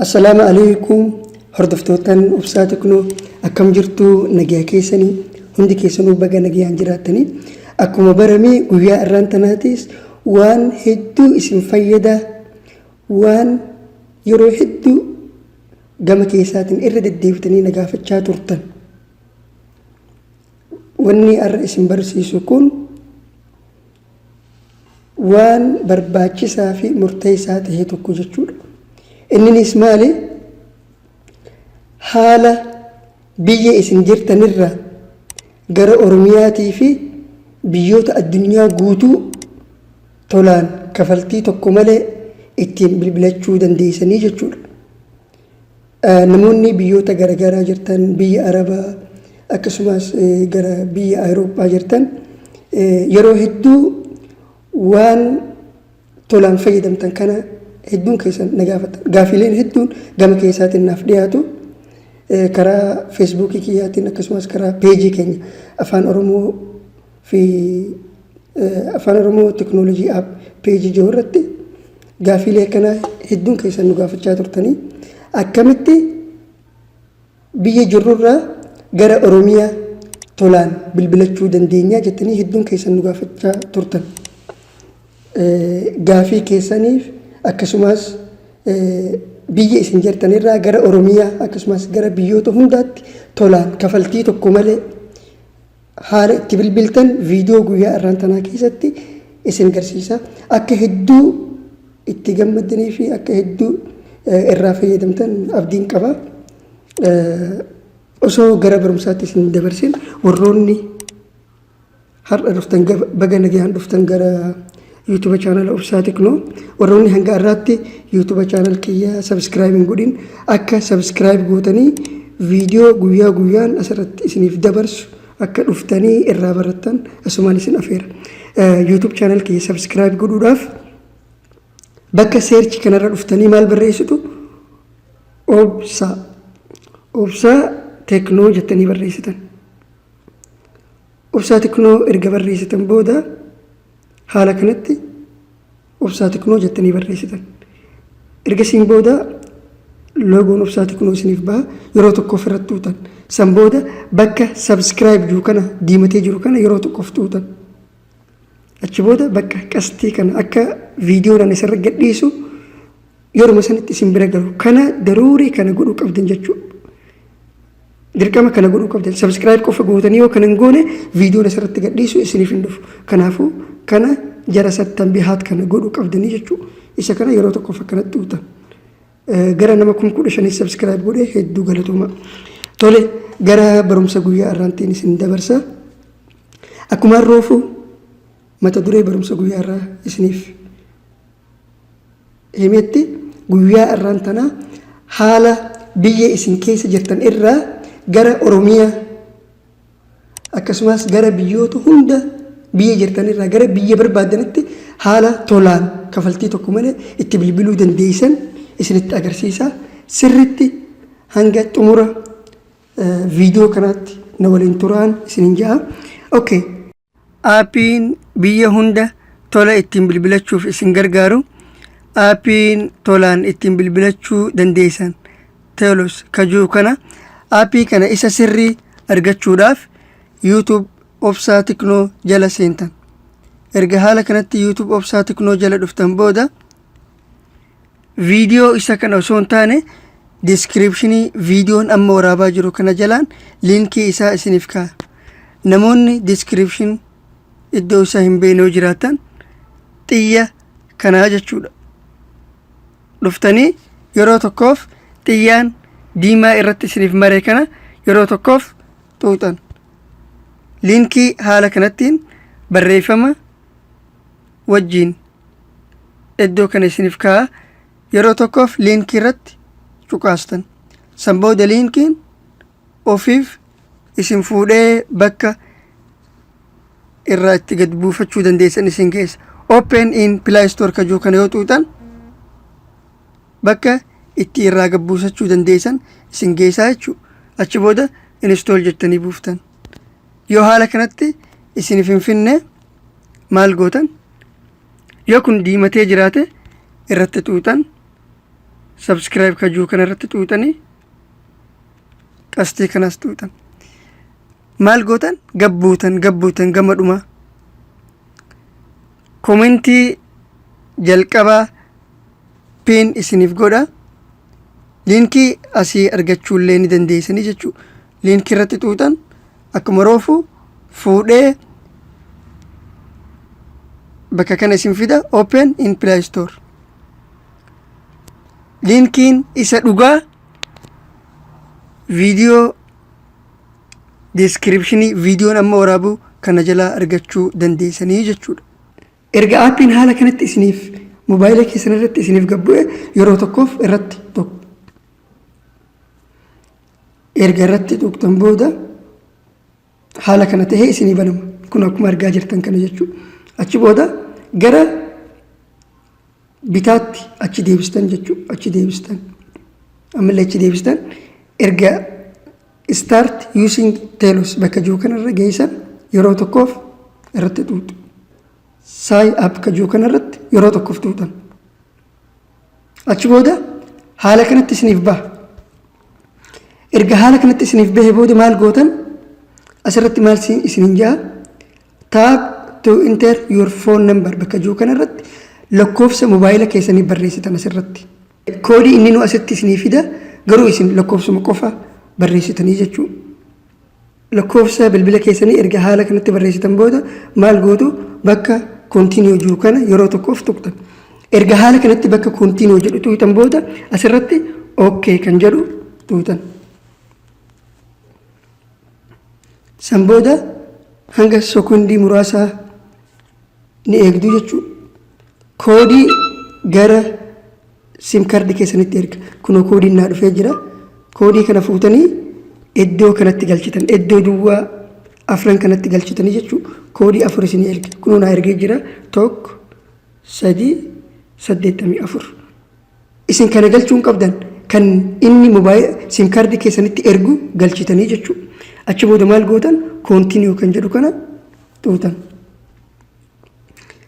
Assalaamu alaikum hordoftoottan obsaa teknoo akkam jirtuu nagaa keessanii hundi keessanuu baga nagaan jiraattanii akkuma baramee guyyaa irraan tanaatis waan hedduu isin fayyada waan yeroo hedduu gama keessaatiin irra deddeebitanii na gaafachaa turtan wanni har'a isin barsiisu kun waan barbaachisaa fi murteessaa ta'e tokko jechuudha. Inninis maali? Haala biyya isin jirtanirraa gara Oromiyaatii fi biyyoota addunyaa guutuu tolaan kafaltii tokko malee ittiin bilbilachuu dandeessanii jechuudha. Namoonni biyyoota garagaraa jirtan biyya Arabaa akkasumas gara biyya Awurooppaa jirtan yeroo hedduu waan tolaan fayyadamtan kana hedduun keessan na gaafatan. Gaafiileen hedduun gama keessaatiin naaf dhiyaatu. Karaa feesbuukii kiyyaatiin akkasumas karaa peejii keenya afaan Oromoo fi afaan oromoo teknoolojii app peejii jiru irratti gaafiilee akkanaa hedduun keessan nu gaafachaa turtanii akkamitti biyya jirrurraa gara oromiyaa tolaan bilbilachuu dandeenyaa jettanii hedduun keessan nu gaafachaa turtan gaafii keessaniif akkasumas biyya isin jirtanirraa gara oromiyaa akkasumas gara biyyoota hundaatti tolaan kafaltii tokko malee Haala itti bilbiltan viidiyoo guyyaa irraan tanaa keessatti isin garsiisa. Akka hedduu itti gammaddanii fi akka hedduu irraa fayyadamtan abdiin qaba. Osoo gara barumsaatti isin dabarsin warroonni har'a dhuftan baga nagaan dhuftan gara YouTube channel Obsaa Teknoo warroonni hanga irraatti YouTube channel kiyya subscribe hin godhin akka subscribe gootanii viidiyoo guyyaa guyyaan asirratti isiniif dabarsu akka dhuftanii irraa barattan asumaan isin afeera. YouTube channel kiyya subscribe godhuudhaaf bakka search kanarra dhuftanii maal barreessitu Obsaa Obsaa Teknoo jettanii barreessitan. Obsaa Teknoo erga barreessitan booda Haala kanatti Obsaa Teknoo jettanii barreessitan. Ergasiin booda loogoon Obsaa Teknoo isiniif baha yeroo tokkoof irratti tuutan. San booda bakka subscribe jiru kana diimatee jiru kana yeroo tokkoof tuutan. Achi booda bakka qastii kana akka viidiyoon ani isarra gadhiisu yeruma sanitti isin bira galu kana daruurii kana godhuu qabdan jechuu dirqama kana godhuu qabdan sabskiraayib qofa gootanii yoo kana hin goone viidiyoon asirratti gadhiisu isiniif hin dhufu kanaafuu kana jara sattan bihaat kana godhuu qabdanii jechuu isa kana yeroo tokkoof akkanatti uutan gara nama kum kudha shanii sabskiraayib godhe hedduu galatooma tole gara barumsa guyyaa irraantiin isin dabarsa akkuma roofu mata duree barumsa guyyaa irraa isiniif himetti guyyaa irraan tanaa haala biyya isin keessa jirtan irraa gara Oromiyaa akkasumas gara biyyoota hunda biyya jirtan irraa gara biyya barbaadanitti haala tolaan kafaltii tokko malee itti bilbiluu dandeessan isinitti agarsiisa sirritti hanga xumura viidiyoo kanaatti na waliin turaan isinin ja'a. Okay. Aappiin biyya hunda tola ittiin bilbilachuuf isin gargaaru aappiin tolaan ittiin bilbilachuu dandeessan telos ka jiru kana aappii kana isa sirrii argachuudhaaf yuutuub obsaa tiknoo jala seentan erga haala kanatti yuutuub obsaa tiknoo jala dhuftan booda viidiyoo isa kana osoo hin taane diskiripshinii viidiyoon amma waraabaa jiru kana jalaan liinkii isaa isiniif kaa'a. Namoonni diskiripshin iddoo isaa hin beekne yoo jiraatan xiyya kanaa jechuudha. Dhuftanii yeroo tokkoof xiyyaan diimaa irratti isiniif maree kana yeroo tokkoof xuuxan. Liinkii haala kanattiin barreeffama wajjiin iddoo kana isiniif kaa'a yeroo tokkoof liinkii irratti cuqaastan san booda liinkiin ofiif isin fuudhee bakka irraa itti gad buufachuu dandeessan isin geessa open in play store kajuu kana yoo xuuxan bakka itti irraa gad buusachuu dandeessan isin geessaa jechuu achi booda install jettanii buuftan yoo haala kanatti isin finfinne maal gootan yoo kun diimatee jiraate irratti xuuxan sabskiraayib kajuu kana irratti xuuxanii qastii kanas xuuxan maal gootan gabbuutan gabbuutan gama dhumaa komentii jalqabaa piin isiniif godha liinkii asii argachuullee ni dandeessanii jechuu liinkii irratti xuuxan Akkuma roofu fuudhee bakka kana isin fida open in play store linkiin isa dhugaa viidiyoo deeskiripshinii viidiyoon amma waraabu kana jalaa argachuu dandeessanii jechuudha. Erga aappiin haala kanatti isiniif mobaayila keessan irratti isiniif gabbu'e yeroo tokkoof irratti tokko Erga irratti tuqxan booda haala kana ta'ee isinii banama. Kun akkuma argaa jirtan kana jechuudha. Achi booda gara bitaatti achi deebistan jechuudha. Achi deebistan. Ammallee achi deebistan erga start using telos bakka jiru kanarra geessan yeroo tokkoof irratti tuqxu. Saay app ka jiru kanarratti yeroo tokkoof tuqxan. Achi booda haala kanatti isiniif baha. Erga haala kanatti isiniif bahe booda maal gootan asirratti maal isinin ja'a taab to enter your phone number bakka jiru kanarratti lakkoofsa mobaayila keessanii barreessitan asirratti. Koodii inni nu asitti isinii fida garuu isin lakkoofsuma qofa barreessitanii jechuudha. Lakkoofsa bilbila keessanii erga haala kanatti barreessitan booda maal gootu bakka continue jiru kana yeroo tokkoof tuqxu. Erga haala kanatti bakka continue jedhu tuqxan booda asirratti OK kan jedhu tuqxan. San booda hanga sekondii muraasaa ni eegdu jechuudha. Koodii gara sim kaardii keessanitti erga. Kunoo koodiin naa dhufee jira. Koodii kana fuutanii iddoo kanatti galchitan. Iddoo duwwaa afran kanatti galchitanii jechuudha. Koodii afur isin erga. Kunoo naa ergee jira. Tokko, sadii, saddeettamii afur. Isin kana galchuu hin qabdan. Kan inni mobile sim card keessanitti ergu galchitanii jechuudha. Achi booda maal gootan continue kan jedhu kana xuuxan.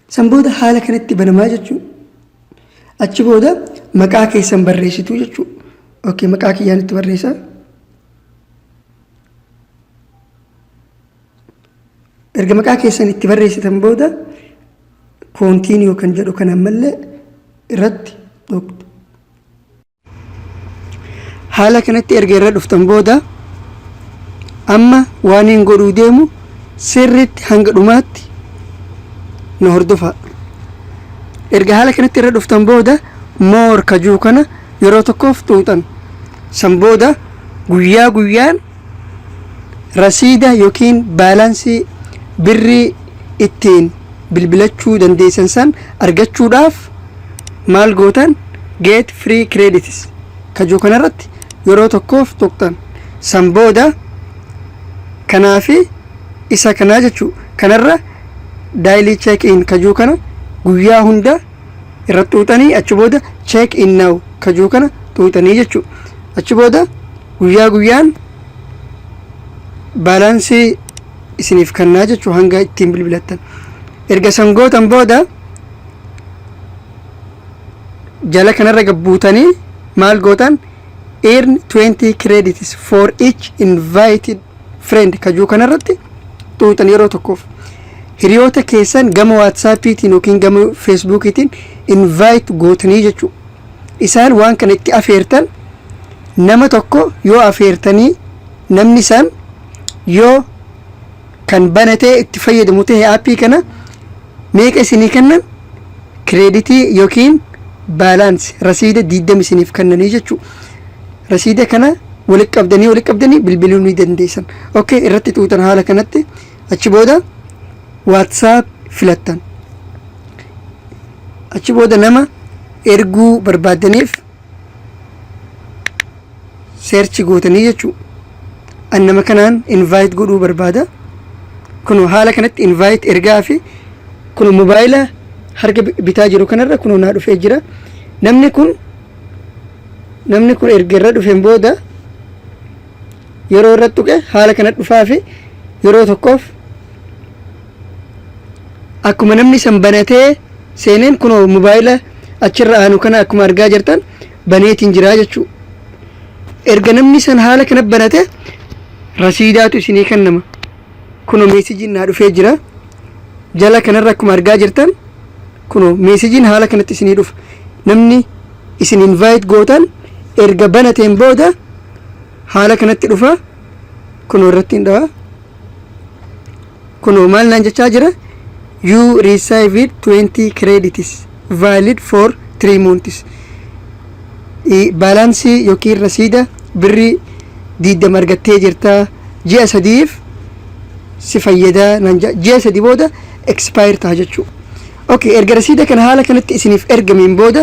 San booda haala kanatti banamaa jechuudha. Achi booda maqaa keessan barreessitu jechuudha. Okay, maqaa kiyyaan itti barreessaa. erga maqaa keessan itti barreessitan booda koontiiniyoo kan jedhu kan ammallee irratti dhugdu. Haala kanatti erga irra dhuftan booda amma waan hin godhuu deemu sirriitti hanga dhumaatti na hordofaa. Erga haala kanatti irra dhuftan booda moor kajuu kana yeroo tokkoof xuuxan. San booda guyyaa guyyaan Rasiida yookiin baalansii birrii ittiin bilbilachuu dandeessan san argachuudhaaf maal gootan get free credits kajoo kanarratti yeroo tokkoof tuqxan san booda kanaa fi isa kanaa jechuu kanarra daily check in kajuu kana guyyaa hunda irra xuuxanii achi booda check in now kajuu kana xuuxanii jechuu achi booda Guyyaa guyyaan baalaansii isiniif kannaa jechuun hanga ittiin bilbilattan. Erga san gootan booda jala kanarra gabbuutanii maal gootan earn 20 credits for each invited friend kajuu kanarratti xuuxan yeroo tokkoof. Hiriyoota keessan gama waatsaappiitiin yookiin gama feesbuukiitiin invite gootanii jechuudha. isaan waan kana itti afeertan nama tokko yoo afeertanii namni san yoo kan banatee itti fayyadamu ta'e aappii kana meeqa isinii kennan kireeditii yookiin baalaansi rasiida 20 isiniif kennanii jechuu rasiida kana walitti qabdanii walitti qabdanii bilbiluu ni dandeessan ok irratti xuuxan haala kanatti achi booda waatsaap filattan achi booda nama erguu barbaaddaniif seerchi gootanii jechuu an nama kanaan invite godhuu barbaada kun haala kanatti invite ergaa fi kun mobaayila harka bi- bitaa jiru kanarra kun naa dhufee jira namni kun namni kun erga irra dhufeen booda yeroo irra tuqe haala kana dhufaa fi yeroo tokkoof Akkuma namni san banatee seeneen kunoo mobaayila achirra aanu kana akkuma argaa jirtan baneetiin jiraa jechuu. Erga namni san haala kana banate rasiidaatu isinii kennama. Kunoo meesijiin naa dhufee jira. Jala kanarra akkuma argaa jirtan kunoo meesijiin haala kanatti isinii dhufa. Namni isin invite gootan erga banateen booda haala kanatti dhufa. Kunoo irratti hin dhawa. kunoo maal naan jechaa jira you received 20 credits valid for 3 months I- baalaansii yookiin rasiida birrii diidama argattee jirta ji'a sadiif si fayyadaa naan jedha. ji'a sadi booda expire ta'a jechuudha. Okay, erga rasiida kana haala kanatti isiniif ergameen booda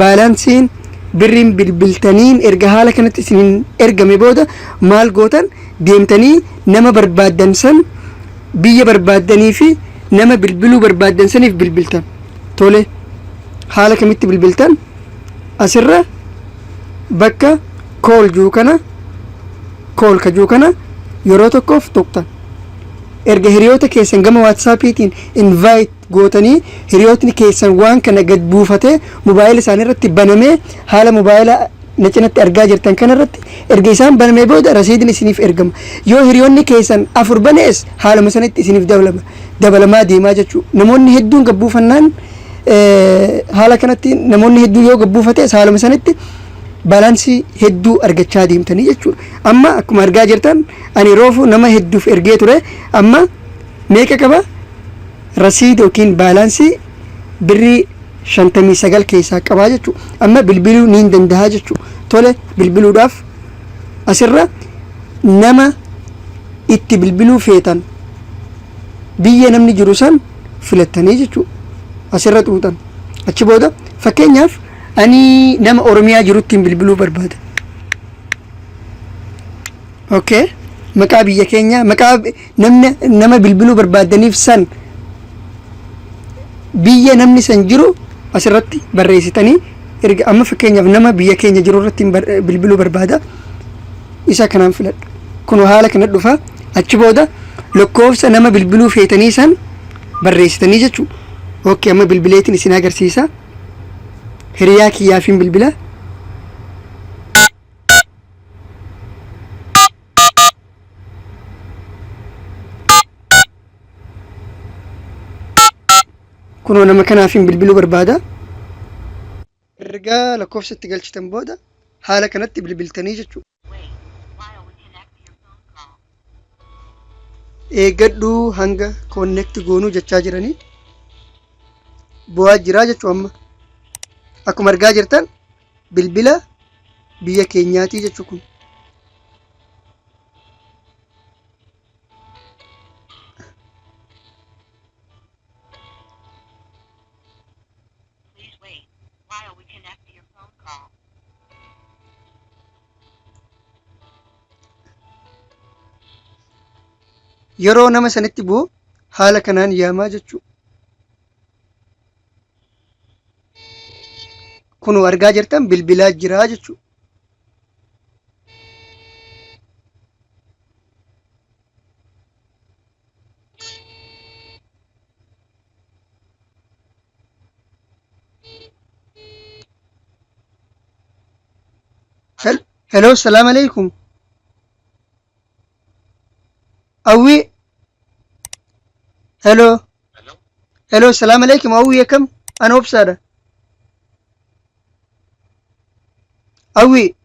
baalaansiin birriin bilbiltaniin erga haala kanatti isiniin ergame booda maal gootan deemtanii nama barbaaddan san biyya barbaaddanii fi nama bilbiluu barbaaddan saniif bilbiltan tole haala kamitti bilbiltan asirra bakka kool juu kana kool ka juu kana yeroo tokkoof tuqxan erga hiriyoota keessan gama waatsaapiitiin invite gootanii hiriyootni keessan waan kana gad buufatee mobaayila isaanii irratti banamee haala mobaayila na cinatti argaa jirtan kana irratti erga isaan banamee booda rasiidni isiniif ergama. Yoo hiriyoonni keessan afur banees haaluma sanitti isiniif dabalama. Dabalamaa deemaa jechuu. Namoonni hedduun gabbuufannaan haala kanatti namoonni hedduu yoo gabbuufatees haaluma sanitti baalaansii hedduu argachaa deemtanii jechuudha. Amma akkuma argaa jirtan ani roofu nama hedduuf ergee ture. Amma meeqa qaba? Rasiid yookiin baalaansii birrii 59 keessaa qabaa jechuu amma bilbiluu ni hin dandahaa jechuu tole bilbiluudhaaf asirra nama itti bilbiluu feetan biyya namni jiru san filattanii jechuu asirra xuuxan achi booda fakkeenyaaf ani nama oromiyaa jirutti hin bilbiluu barbaada okay maqaa biyya keenya maqaa Namni nama bilbiluu barbaaddaniif san biyya namni san jiru asirratti barreessitanii erga amma fakkeenyaaf nama biyya keenya jiru irratti bilbiluu barbaada isa kanaan filadha. Kun haala kana dhufa achi booda lakkoofsa nama bilbiluu feetanii san barreessitanii jechuudha. Ookee amma bilbileetiin isin agarsiisa. Hiriyaa kiyyaafin bilbila. kunoo nama kanaaf hin bilbiluu barbaada. Erga lakkoofsa itti galchitan booda haala kanatti bilbiltanii jechuudha. Eeggadhuu hanga koonnekti goonuu jechaa jiranii bu'aa jiraa jechuu amma. Akkuma argaa jirtan bilbila biyya keenyaatii jechu kun. Please wait while we connect your phone call. Yeroo nama sanitti boo haala kanaan yaamaa jechuu. Kun argaa jirtan bilbilaa jiraa jechuudha. Hello, salaam alaikum. Awwii. Hello. Hello, salaam alaikum. Awwii akkam? Ana obsaadha. Awwii.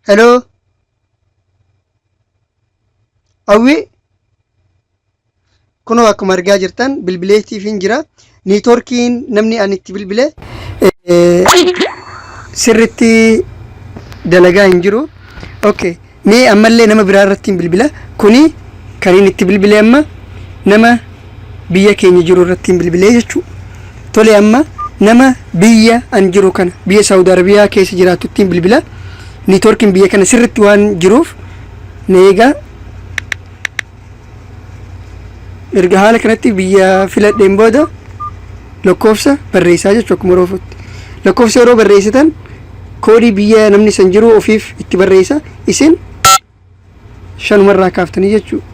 Hello. Awwii. Kunoo akkuma argaa jirtan bilbileetiif hin jira. Niitoorkiin namni ani itti bilbile sirritti dalagaa hin jiru. Okay. Mee ammallee nama biraa irratti hin bilbila. Kuni kan inni itti bilbile amma nama biyya keenya jiru irratti hin bilbile jechuudha. Tole amma nama biyya an jiru kana biyya Saawud Arabiyaa keessa jiraatutti hin bilbila. Niitoorkiin biyya kana sirritti waan jiruuf na eegaa erga haala kanatti biyya filadheen booda lakkoofsa barreessaa jechuudha akkuma roofutti. Lakkoofsa yeroo barreessitan koodii biyya namni san jiru ofiif itti barreessa isin shanumarraa kaaftanii jechuudha.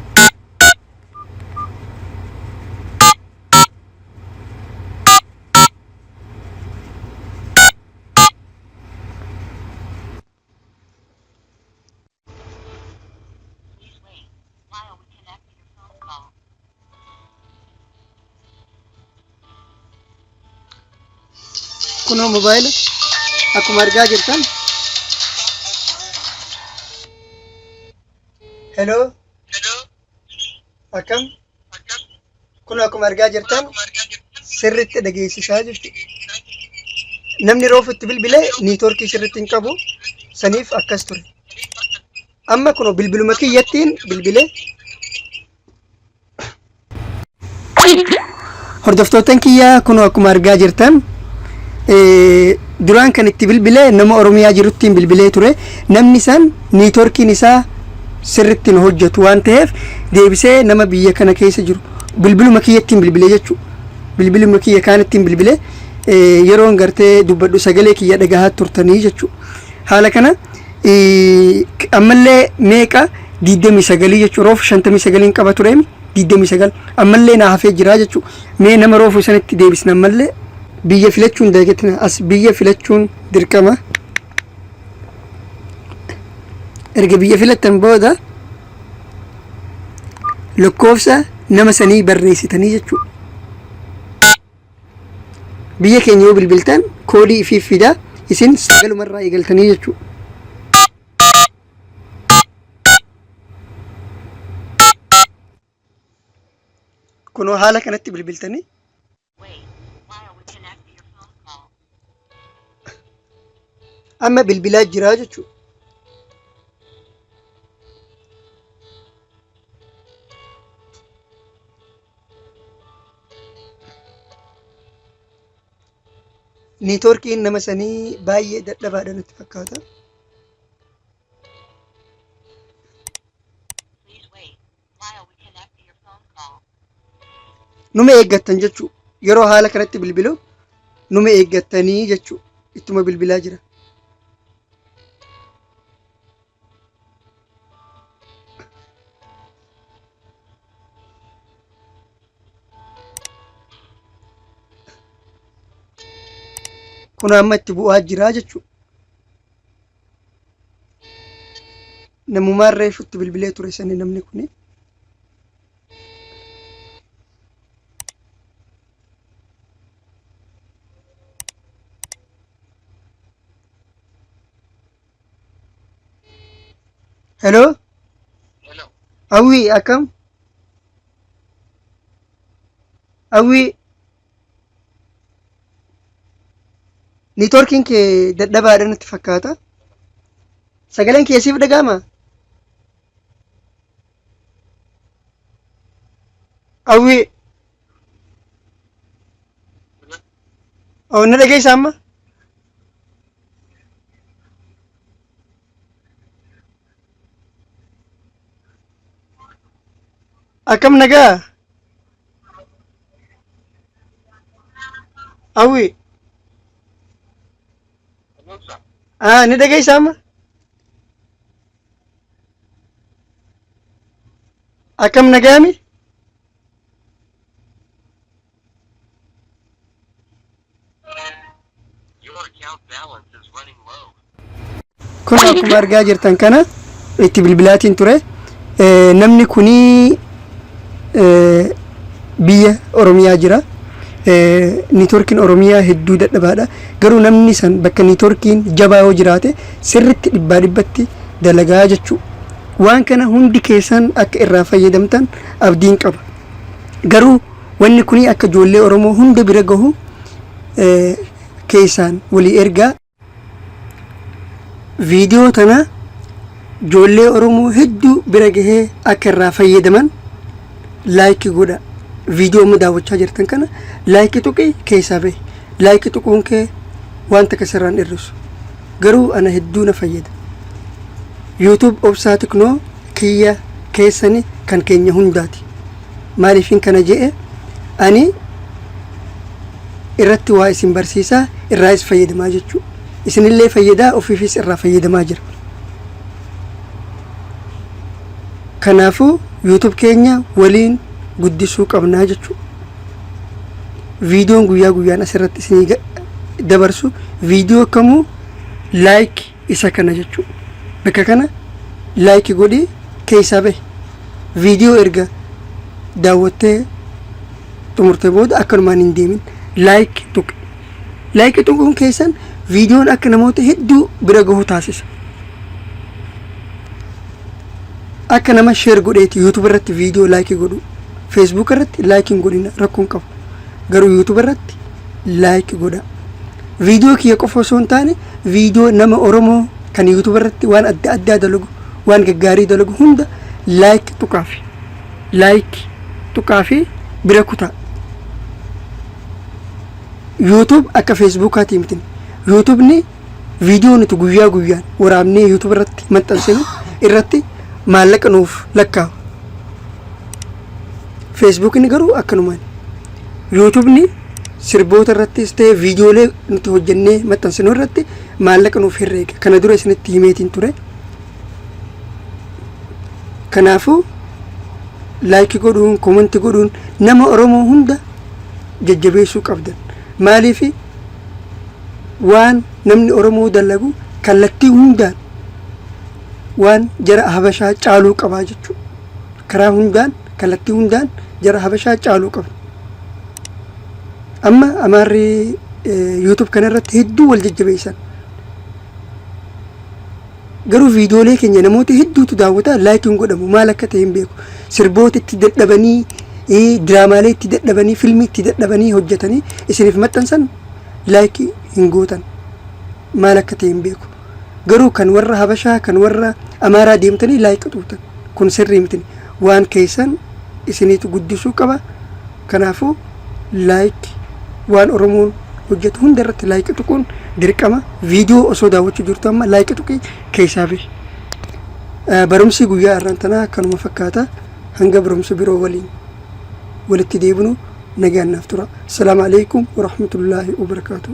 kunoo mobaayila akkuma argaa jirtan heloo Hello. akkam kun akkuma argaa jirtan sirriitti dhageessisaa jechuudha. Namni roofutti bilbilee niitoorkii sirriitti hin qabu saniif akkas ture. Amma kun bilbiluma kiyyattiin bilbilee Hordoftoottan kiyya kunoo akkuma argaa jirtan duraan kan itti bilbile nama Oromiyaa jiruttiin bilbilee ture. Namni san niitoorkiin isaa sirritti hin hojjetu waan ta'eef deebisee nama biyya kana keessa jiru bilbiluma kiyyattiin bilbile jechuudha. Bilbiluma kiyya kaanittiin bilbile yeroon gartee dubbadhu sagalee kiyya dhagahaa turtanii jechuudha. Haala kana ammallee meeqa 29 jechuudha roofu 59 qaba tureemi. 29 ammallee naa hafee jira jechuu mee nama roofuu sanitti deebisna ammallee biyya filachuun dagatina as biyya filachuun dirqama erga biyya filattan booda lakkoofsa nama sanii barreessitanii jechuu biyya keenya yoo bilbiltan koodii ifiif fida isin sagalumarraa eegaltanii jechuu kunoo haala kanatti bilbiltanii amma bilbilaa jiraa jechuudha. Neetwoorkiin nama sanii baay'ee dadhabaadha natti fakkaata. Numa eeggattan jechuu yeroo haala kanatti bilbilu numa eeggattanii jechuu ittuma bilbilaa jira. kun amma itti bu'aa jiraa jechuudha. Namumaan reefutti bilbilee ture sani namni kuni. Hello? Hello. Awwii akkam? Awwii. Niitoorkiin kee dadhabaadha natti fakkaata. Sagaleen kee siif dhaga'ama? Awwii. Oh, na dhageessa amma? Akkam nagaa? Awwi. Ah, ni dhageessa amma? Akkam nagaami? kun akkuma argaa jirtan kana itti bilbilaatiin ture Eh, namni kunii eh, biyya oromiyaa jira Eh, niitoorkiin oromiyaa hedduu dadhabaadha garuu namni san bakka niitoorkiin jabaa yoo jiraate sirritti dhibbaa dhibbatti dalagaa jechuu waan kana hundi keessan akka irraa fayyadamtan abdiin qaba. Garuu wanni kuni akka ijoollee Oromoo hunda bira gahu keessaan walii ergaa. Viidiyoo tana ijoollee Oromoo hedduu bira gahee akka irraa fayyadaman laayikii godha. Viidiyoo amma daawwachaa jirtan kana laayikii tuqii keessaa bahi. Laayikii tuquun kee waan takka sirraan hir'isu. Garuu ana hedduu na fayyada. YouTube obsaa tiknoo kiyya, keessani, kan keenya hundaati. Maaliifin kana je'e? Ani irratti waa isin barsiisaa, irraayis fayyadamaa jechuu. Isinillee fayyadaa, ofiifis irraa fayyadamaa jira. Kanaafuu YouTube keenya waliin guddisuu qabnaa jechuu. Viidiyoon guyyaa guyyaan asirratti isinii ga- dabarsu viidiyoo kamuu like Isa kana jechuu bakka kana like godhii keessaa bahi viidiyoo erga daawwattee xumurte booda akkanumaan hin deemin like tuqi like tuquun keessan viidiyoon akka namoota hedduu bira gahu taasisa akka nama sheer godheeti yuutuba irratti viidiyoo like godhu feesbuuka irratti like hin godhina rakkoon qabu garuu yuutuba irratti like godha viidiyoo kiyya qofa osoo hin taane viidiyoo nama oromoo kan yuutuba irratti waan adda addaa dalagu waan gaggaarii dalagu hunda like tuqaafi like tuqaafi bira kutaa yuutub akka feesbuukaatii mitin yuutubni viidiyoo nuti guyyaa guyyaan waraabnee yuutuba irratti maxxansinu irratti maallaqa nuuf lakkaawa feesbuukni garuu akkanumaan Yuutuubni sirboota irrattis ta'e viidiyoolee nuti hojjennee maxxansinu irratti maallaqa nuuf herreega. Kana dura isinitti himeetiin ture. Kanaafuu laayikii godhuun, komanti godhuun nama Oromoo hunda jajjabeessuu qabdan. Maaliif waan namni Oromoo dalagu kallattii hundaan waan jara Habashaa caaluu qabaa jechuudha. Karaa hundaan kallattii hundaan jara habashaa caaluu qabu. Amma amaarri yuutuub kanarratti hedduu wal jajjabeessan. Garuu viidiyoolee keenya namoota hedduutu daawwata laayikiin godhamu maal akka ta'e hin beeku. Sirboota itti dadhabanii diraamaalee itti dadhabanii filmii itti dadhabanii hojjetanii isiniif maxxansan laayikii hin gootan maal akka ta'e hin beeku. Garuu kan warra habashaa kan warra amaaraa deemtanii like xuuxan kun sirrii mitin waan keessan isiniitu guddisuu qaba kanaafuu like waan oromoon hojjetu hunda irratti like tuquun dirqama viidiyoo osoo daawwachuu jirtu amma like tuqii keessaa fi barumsi guyyaa irraan tanaa kanuma fakkaata hanga barumsa biroo waliin walitti deebinu nagaan naaf tura. Salaamu alaikum warahmatullaahi wabarakaatuh.